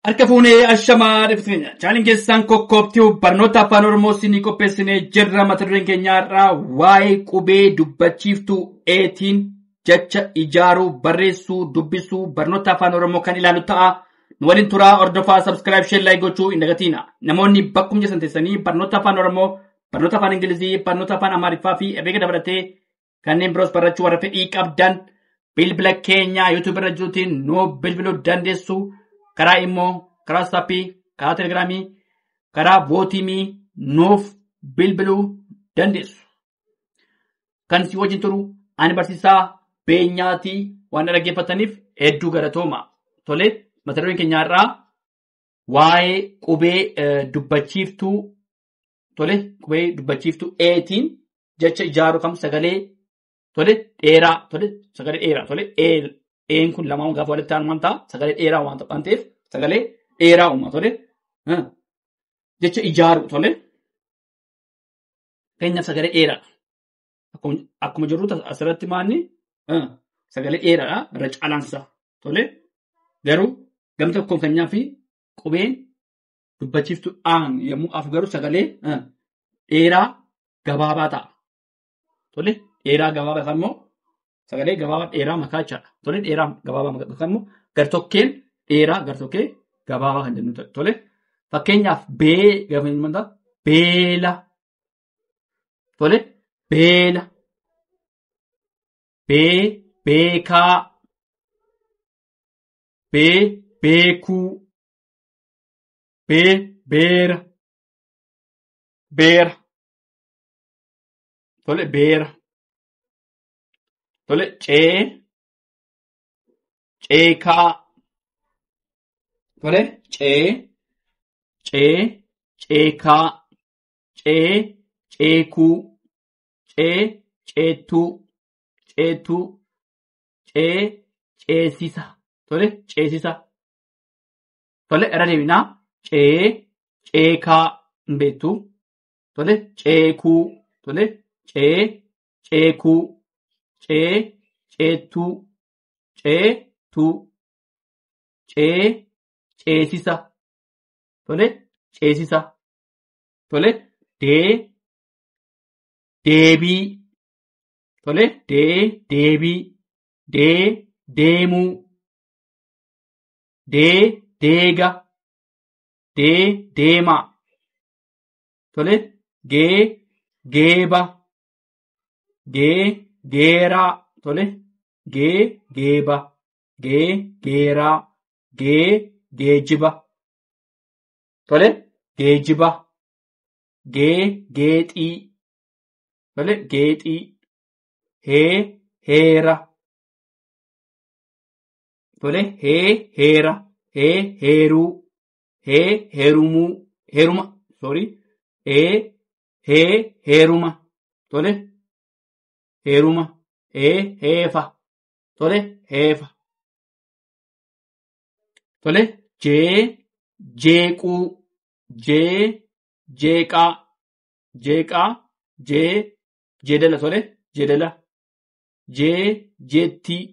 Harka fuunee ashamaa dhibbitti keenya. Chaaniin keessaan kokkoobtii barnoota afaan Oromoo isinii qopheessinee jirra. Mata dureen keenya har'aa waa'ee qubee dubbachiiftuu eetiin jecha ijaaruu, barreessuu, dubbisuu, barnoota afaan Oromoo kan ilaalu ta'a. Nu waliin turaa hordofaa subscribe share like gochuu hin dagatiina. Namoonni bakkuma jirtan teessanii barnoota afaan Oromoo, barnoota afaan Ingilizii, barnoota afaan Amaariffaa fi herreega dabalatee kanneen biroos barachuu warra fedhii qabdan bilbila keenya YouTube irra jirutiin nu bilbiluu dandeessu. Karaa immoo karaa saappii, karaa telegiraamii, karaa vootiimii nuuf bilbiluu dandeessu. Kan si wajjin turu ani barsiisaa beenyaatii waan dhaggeeffataniif hedduu galatooma. Tole mata dureen keenyaarraa waa'ee qubee dubbachiiftuu tole qubee dubbachiiftu eetiin jecha ijaaru kam sagalee tole dheeraa tole sagalee dheeraa tole ee een kun lamaan gaafa walitti aanu waan ta'a sagalee dheeraa waan ta'an ta'eef sagalee dheeraa uuma tole Huh. jecha ijaaru tole keenyaaf sagalee dheeraa akkuma akkuma jirru ta- asirratti maanni huh, sagalee dheeraadha irra caalaansa tole garuu gam tokkoon keenyaa fi qubeen dubbachiiftu aan yommuu af garuu sagalee eh, dheeraa gabaabaa ta'a. Tole dheeraa gabaabaa yookaan immoo sagalee gabaabaa dheeraa makaa jechaadha. Tole dheeraa gabaabaa makaa yookaan immoo gartokkeen dheeraa gartokkee gabaabaa kan jennu ta'a. Tole fakkeenyaaf bee gaafa jennu maal ta'a? beela. Tole beela. Bee beekaa. Bee beekuu. B beera beera tole beera tole C ceekaa tole C C ceekaa C ceekuu C ceettuu ceettuu C ceesisa tole ceesisa. Tole irra deebinaa cee ceekaa hin beektu. Tole ceekuu tole cee ceekuu cee ceettuu ceetuu cee ceesisa tole ceesisa tole dee deebii tole dee deebii dee deemuu dee deega dee deemaa tole gee geeba gee geeraa tole gee geeba gee geeraa gee geejiba tole geejiba gee geexii tole geexii hee heera Tole hee heera hee heeruu hee heerumuu heeruma sorry ee hee heeruma tole heeruma ee heefa tole heefa tole jee jeequu jee jeeqaa jeeqaa jee jeedala tole jeedala jee jeettii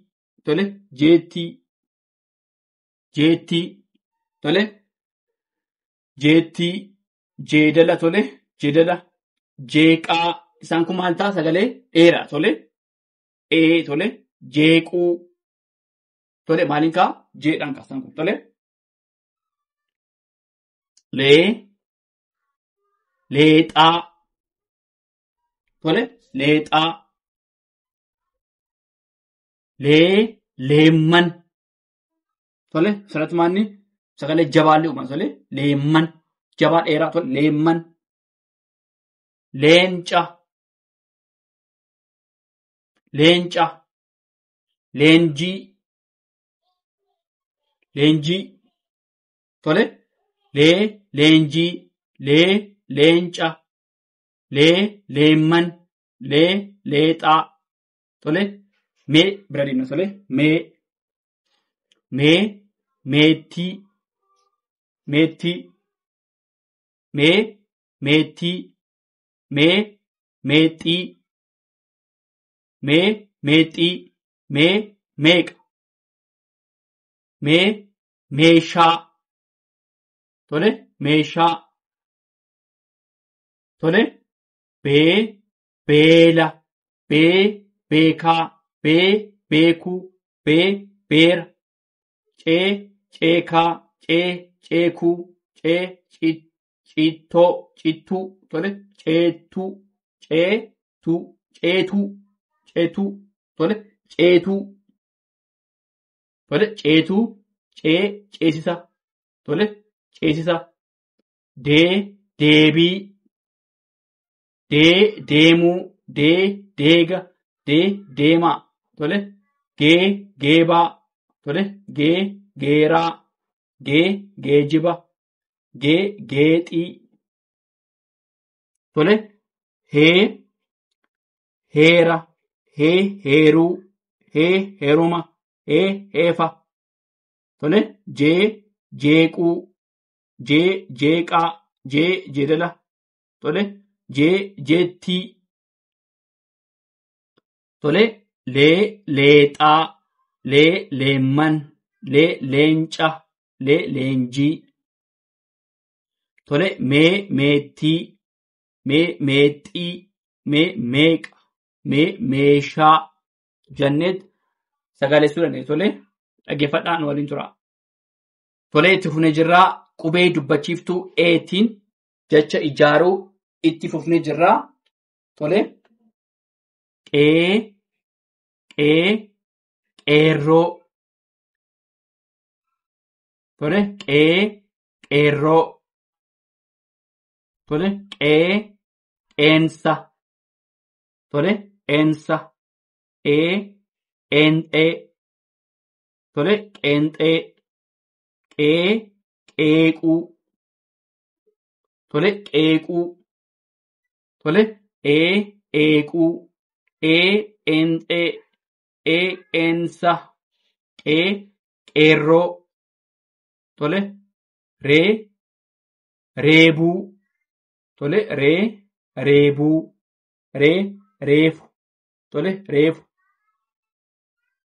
tole jeettii jeettii tole jeettii jeedala tole jeedala jeeqaa isaan kun maal ta'a sagalee dheeraa tole ee tole jeequu tole maaliin kaa jeedhaan kaa isaan kun tole lee leexaa tole leexaa Lee, leemman. Tole, asirratti maanni sagalee jabaallee uuman tole, leemman. Jabaa dheeraa tole, leemman. Leenca. Leenca. Leenjii. Leenjii. Tole, lee, leenjii. Lee, leenca. Lee, leemman. Lee, leexaa. Tole mee bira deemna tole mee mee meettii meettii mee meettii mee meexxii mee meexxii mee meeqa mee meeshaa tole meeshaa tole bee beela, bee, beekaa, bee, beekuu, bee, beera, cee, ceekaa, cee, ceekuu, cee, ci- ciittoo, cittuu, tole, ceettuu, cee, tuu, ceetuu, ceetuu, tole, ceetuu, tole, ceetuu, cee, ceesisa, tole, ceesisa, dee, deebii, dee deemuu dee deega dee deemaa tole gee geebaa tole gee geeraa gee geejiba gee geexii tole hee heera hee heeruu hee heeruma hee heefa tole jee jeequu jee jeeqaa jee jeedala tole jee jeettii tole lee leexaa lee leemman lee leenca lee leenjii tole mee meettii mee meexxii mee meeqa mee meeshaa janneet sagaleessuu dandeenya tole dhaggeeffadhaa nu waliin tura. Tolee itti fufnee jirraa qubee dubbachiiftuu eetiin jecha ijaaruu itti fufnee jirra. Tole. Qee, qee, qeerroo. Tole. Qee, qeerroo. Tole. Qee, qeensa. Tole. Qeensa. Ee, qeenxee. Tole. Qeenxee. Qee, qeequu. tole qeequu tole ee eequu ee eenxee ee eensa qee qeerroo tole ree reebuu tole ree reebuu ree reefu tole reefu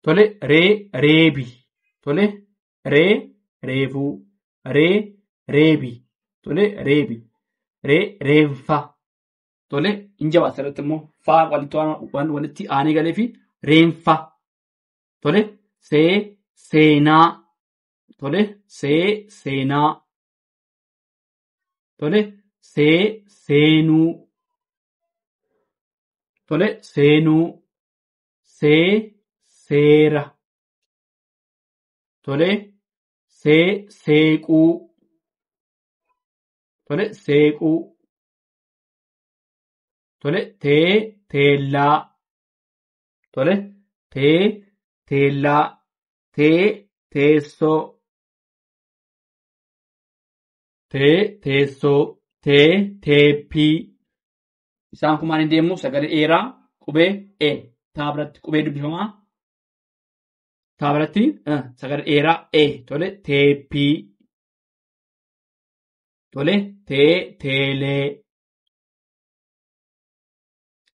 tole ree reebi tole Ree, reefuu. Ree, reebi. Tole, reebi. Ree, reenfa. Tole, hin jabaata irratti immoo faa walitti waan- waan walitti aanee galee fi reenfa. Tole, see, seenaa. Tole, see, seenaa. Tole, see, seenuu. Tole, seenuu. See, seera. tole see seequu tole seequu tole tee teellaa tole tee teellaa tee teessoo tee teessoo tee teeppii isaan kun maaliin deemu sagalee eeraa qubee e taa biratti qubee dubbifamaa Taabaratti sagalee dheeraa e tole teeppii tole tee teelee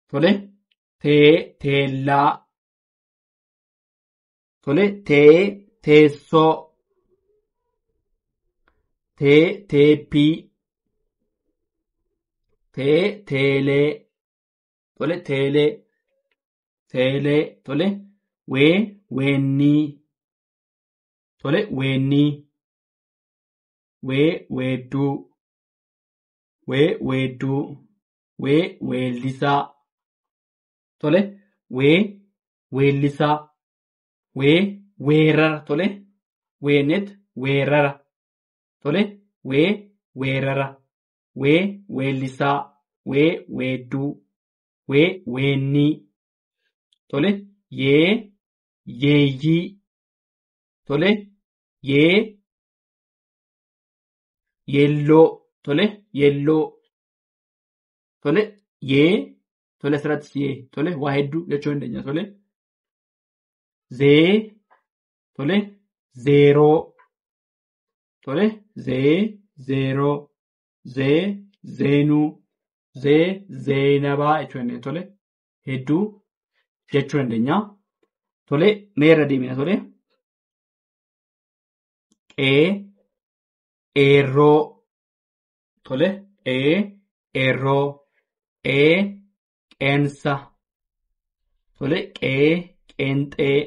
tole tee teellaa tole tee teessoo tee teeppii tee teelee tole teelee teelee tole wee weennii tole weennii wee weedduu wee weedduu wee weellisaa tole wee weellisaa wee weerara tole weenet weerara tole wee weerara wee weellisaa wee weedduu wee weennii tole yee yeeyyii tole yee yeelloo tole yeelloo tole yee tole asirratti siyee tole waa hedduu jechuu dandeenya tole zee tole zeeroo Tole zee zeeroo zee zeenuu zee zeenabaa jechuu dandeenya tole hedduu jechuu dandeenya tole mee irra deemina tole qee eerroo tole qee eerroo ee qeensa tole qee qeenxee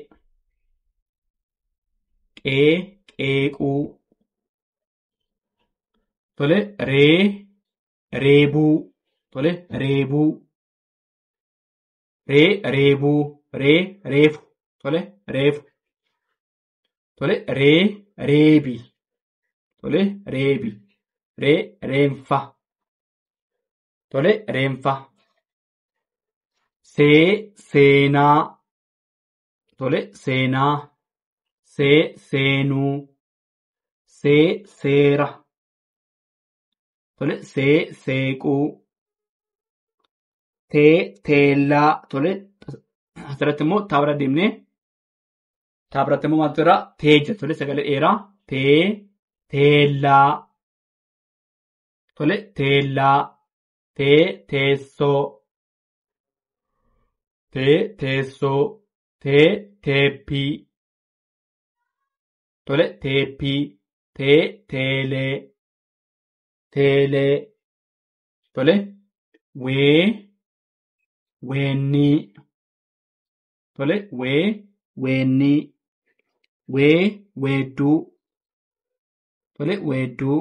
qee qeequu tole ree reebuu tole reebuu ree reebuu ree reefu tole reefu tole ree reebi tole reebi ree reenfa Tole reenfa. See seenaa. Tole seenaa. See seenuu. See seera. Tole see seequu. Tee teellaa. Tole asirratti immoo taabira deemnee taabiratti immoo maaltu irraa tee jira. Tole sagalee dheeraa tee teellaa. Tole teellaa tee teessoo tee teessoo tee teeppii tole teeppii tee teelee teelee tole wee weennii tole wee weennii wee weedduu Tole weedduu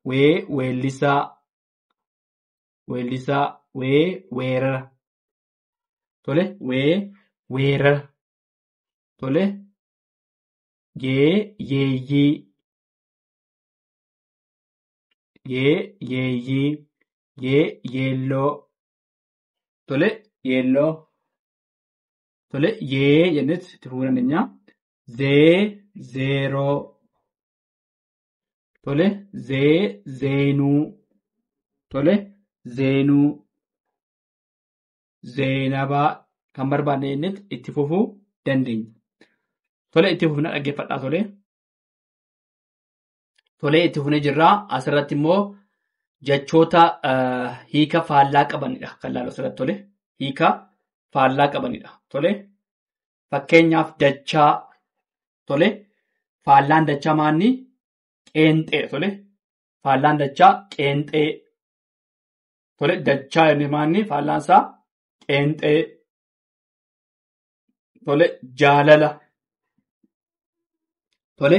wee weellisaa weellisaa wee weerara. Tole wee weerara. Tole yee yeeyyii yee yeeyyii yee yeelloo. Tole yeelloo. Tole yee jennetti itti fufuu dandeenya. zee zeeroo tole zee zeenuu tole zeenuu zeenabaa kan barbaadne jennetti itti fufuu dandeenya. Tole itti fufna dhaggeeffadhaa tole. Tole itti fufnee jirra asirratti immoo jechoota eh, hiika faallaa qabanidha kan laalu asirratti tole hiika faallaa qabanidha tole Fakkeenyaaf dachaa tole faallaan dachaa maanni qeenxee tole faallaan dachaa qeenxee tole dachaa jennee maanni faallaan isaa qeenxee tole jaalala tole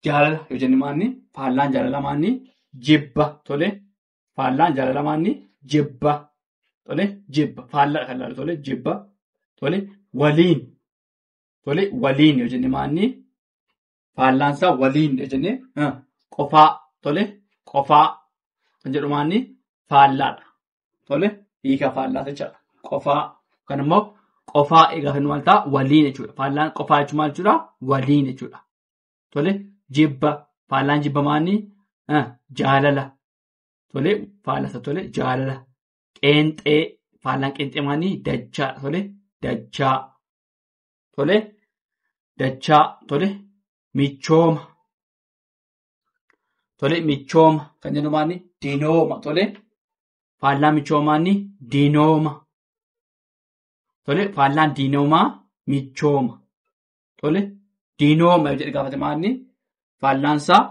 jaalala yoo jenne maanni faallaan jaalala maanni jibba tole Faallaan jaalala maanni jibba. Tole jibba. Faallaa kan ilaalu tole jibba. Tole waliin. Tole waliin yoo jenne maanni faallaan isaa waliin yoo jenne ah, qofaa. Tole qofaa kan jedhu maanni faallaadha. Tole hiika faallaa jechaadha. Qofaa kan immoo qofaa egaa kan maal ta'a waliin jechuudha. Faallaan qofaa jechuun maal jechuudha waliin jechuudha. Tole jibba faallaan jibba maanni jaalala. Tole faallasa tole jaalala. Qeenxee faallaan qeenxee maanni dachaa tole dachaa. Tole dachaa tole michooma. Tole michooma kan jennu maanni dinooma tole faallaa michoomaanni dinooma. Tole faallaan dinoomaa michooma. Tole. Diinooma yoo jedhe gaafate maalni faallaansaa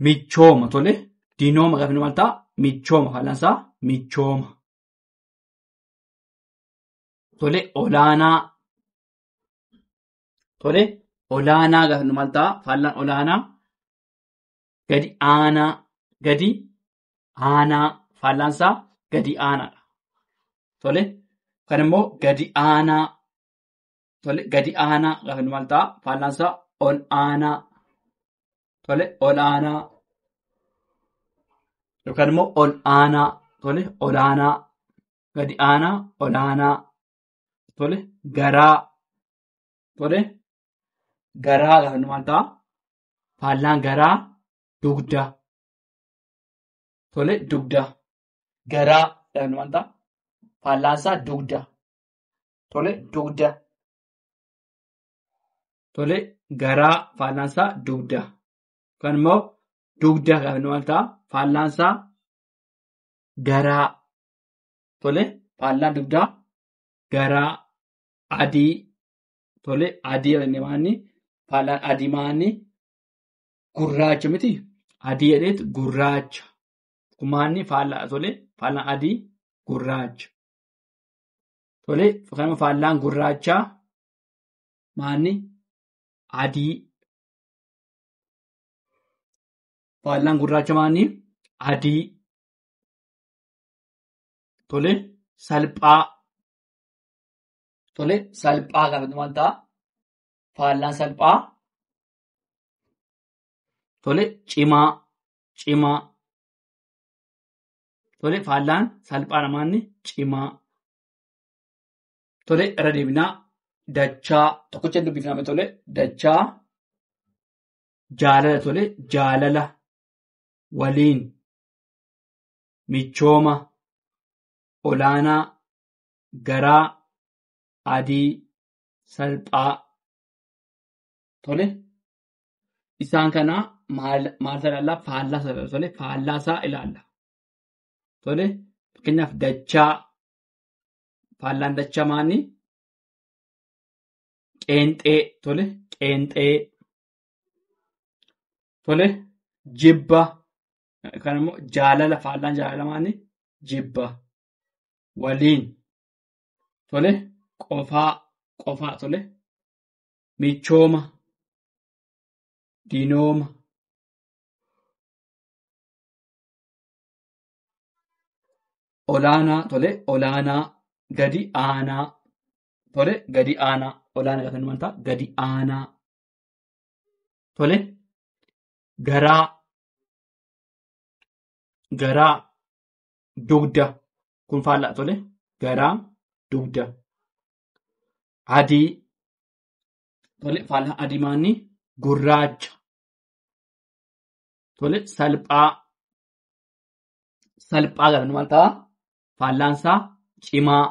michooma tole. Diinooma gaafate maal ta'a? Michooma faallaansaa michooma. Tole olaanaa. Tole olaanaa gaafate maal ta'a? Faallaan olaanaa gadi aanaa gadi aanaa faallaansaa gadi aanaadha. Tole kan immoo gadi aanaa Tole gadi aanaa gaafa jennu maal ta'a? Faallaan isaa ol aanaa. Tole ol aanaa. Yookaan immoo ol aanaa. Tole ol aanaa. Gadi aanaa ol aanaa. Tole garaa. Tole garaa gaafa jennu maal ta'a? Faallaan garaa dugda. Tole dugda. Garaa gaafa jennu maal ta'a? Faallaan isaa dugda. Tole dugda. Tole garaa faallaan isaa dugda. Yookaan immoo dugda kan maal ta'a? Faallaan isaa garaa. Tole faallaan dugdaa garaa adii. Tole adii jennee maanni faallaan adii maanni gurraacha miti. Adii jedheet gurraacha. Kumaanni faallaa tole faallaan adii gurraacha. Tole fakkeenyaaf faallaan gurraachaa maanni adii faallaan gurraacha maanni adii tole salphaa tole salphaa kan dhuman ta'a faallaan salphaa tole cimaa cimaa Tole faallaan salphaa namaanni cimaa. Tole irra deebinaa dachaa tokkocha hin dubbifname tole dachaa jaalala tole jaalala waliin michooma olaanaa garaa adii salphaa tole Isaan kana maal maal isa ilaalla? Faallaa isa ilaalla. Tole faallaa isaa ilaalla. Tole fakkeenyaaf dachaa faallaan dachaa maanni qeenxee tole qeenxee tole jibba kan immoo jaalala faallaan jaalala maanni jibba waliin tole qofaa qofaa tole michooma dinooma olaanaa tole olaanaa gadi aanaa tole gadi aanaa olaanaa gaafa inni mantaa gadi aanaa tole garaa garaa dugda kun faallaa tole garaa dugda adii tole faalaa adimaanni gurraacha tole salphaa salphaa galan maal ta'a faallaan isaa cimaa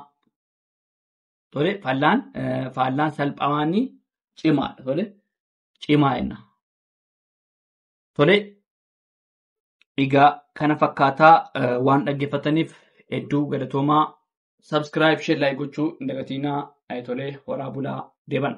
tole faallaan eh, faallaan salphamaanni cimaadha tole cimaa jenna tole egaa kana fakkaataa eh, waan dhaggeeffataniif hedduu galatoomaa subscribe share like gochuu hin dagatiinaa ayitolee horaa bulaa deeban.